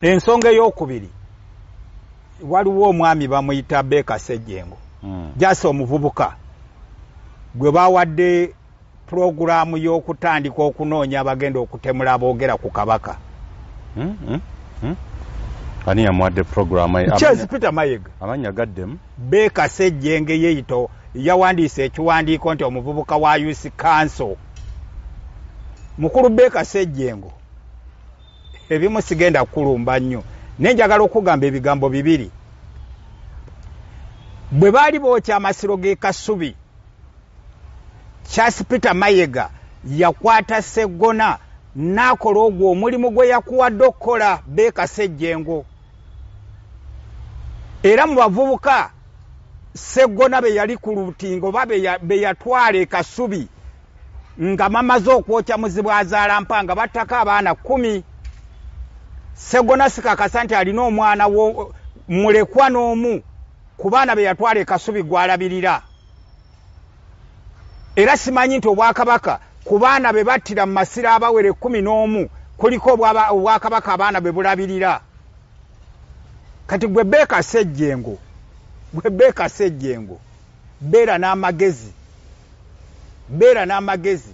ensonga eyokubiri waliwo omwami bamuyita beeka sejjengo hmm. jasi omuvubuka gwe bawadde pulogulaamu y'okutandika okunoonya abagenda okutemula aboogera ku kabaka hmm, hmm, hmm. ani yamuwadde pulogulaamukyezi peter mayega amanya gaddemu beeka sejjenge yeyito yawandiisa ekiwandiiko nti omuvubuka wa usi kanso mukulu beeka sejjengo ebimu sigenda kukulumba nnyo naye njagala okugamba ebigambo bibiri bwe baali bookya amasiro g'e kasubi charles peter mayega yakwata seggona n'akola ogwo omulimu gwe yakuwadde okukola beekasa ejjengo era mu bavubuka seggona be yali ku lutingo oba be yatwala e kasubi nga mamaze okwokya muzibu azaala mpa nga battako abaana kumi segona sikakasa nti alina omwana wo mulekwa n'omu ku baana be yatwala ekasubi gwalabirira era simanyi nti obwakabaka ku baana be battira mu masiro abawere kumi n'omu kuliko obwakabaka abaana be bulabirira kati gwe beekasa ejjengo gwe beekasa ejjengo Beera n'amagezi. Beera n'amagezi.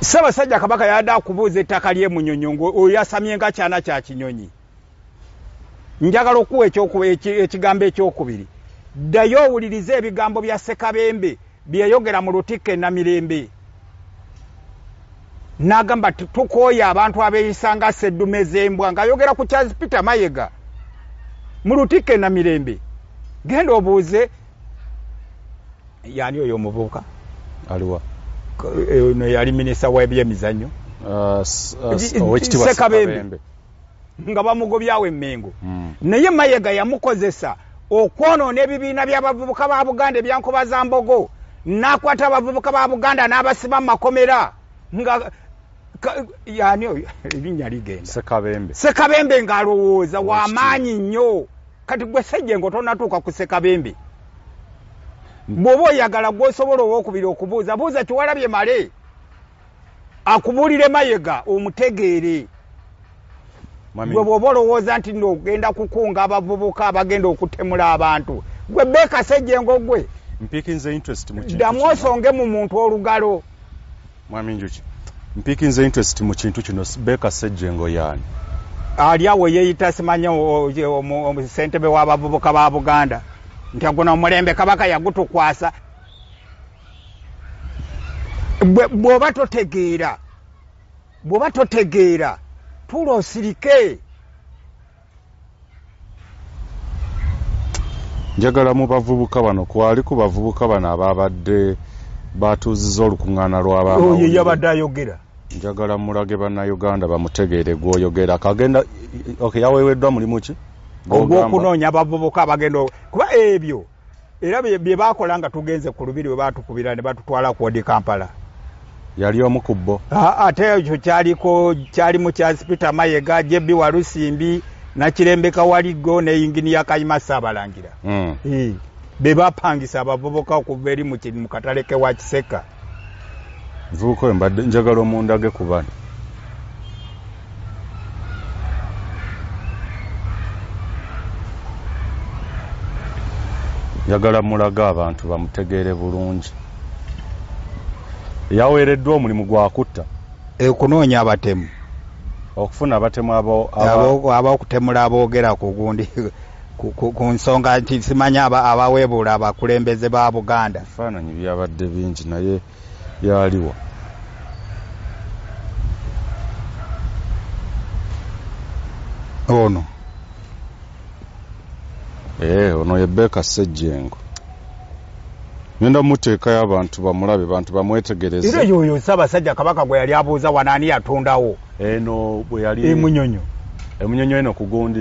Ssabasajja Kabaka yabadde akubuuza ettaka ly'e Munyonyo ng'oyasamye nga kyana kya kinyonyi. Njagala okuwa ekigambo ekyokubiri. Ddayo owulirize ebigambo bya Ssekabembe. bye yayogera mu lutikko e Namirembe n'agamba nti tukooye abantu abeeyisa nga sseddume z'embwa ng'ayogera ku Charles Peter Mayega mu lutikko e Namirembe genda obuuze yaani oyo omuvubuka aliwa eh, ono yali minisita w'ebyemizannyo uh, uh, owekitibwa Ssekabembe nga bamugobyawo emengo mm. naye mayega yamukozesa okwonoona ebibiina byabavubuka ba buganda ebyankoba za mbogo nakwata abavubuka ba buganda n'abasiba mu makomera nga yani oyo ebinya ligenda sekabembe sekabembe ng'alowooza wamaanyi nnyo kati gwe sejje nga otonatuuka ku sekabembe bw'oba oyagala gwosobola owokubiri okubuuza buuza kiwalabye male akubuulire mayega omutegeere gwe bwoba olowooza nti no ogenda kukunga abavubuka abagenda okutemula abantu gwe beekasejjengo gwe ddamu osonge mu muntu olugalo mwami njuki mpikinze interest mu kintu kino beeka sejjengo yaani ali awo yeeyita simanya ssentebe w'abavubuka ba buganda nti aguno omulembe kabaka yagutukwasa bwoba totegeera bwoba totegeera tuula osirike njagala mu bavubuka bano kwali ku bavubuka bano ababadde batuuziza olukuŋŋaana lw'abaoyo yabadde ayogera njagala mulage bannayuganda bamutegeere gwoyogera kagenda okay, yaweeweddwa mulimu ki ogw'okunoonya abavubuka abagenda kuba ebyo era bye baakola nga tugenze ku lubiri we baatukubira ne batutwala ku odi kampala yali omu ku bbo ate ekyo kyaliko kyali mu kyazi peter mayega jebbi walusimbi nakirembeka waligo ne yinginiya kayima saabalangira hmm. be bapangisa abavubuka okuva eri mu katale ke wa kiseka Mvubuka oyo mbadde njagala omundage ku bano. Njagala mulaga abantu bamutegeere bulungi. Yaweereddwa omulimu gwa kutta. Ekunoonya abatemu. Okufuna abatemu abo... Abakutemula aboogera ku gundi. ku nsonga nti simanyi abaweebuula abakulembeze ba buganda ebifaananyi byabadde bingi naye yaliwa ono ee eh, ono ye beeka ssejjengo ngenda muteekayo abantu bamulabe bantu bamwetegereze era yoyo ssaabasajja kabaka gwe yali abuuza wanaani yatondawo eno bwe yali emunyonyo emunyonyo eno kugundi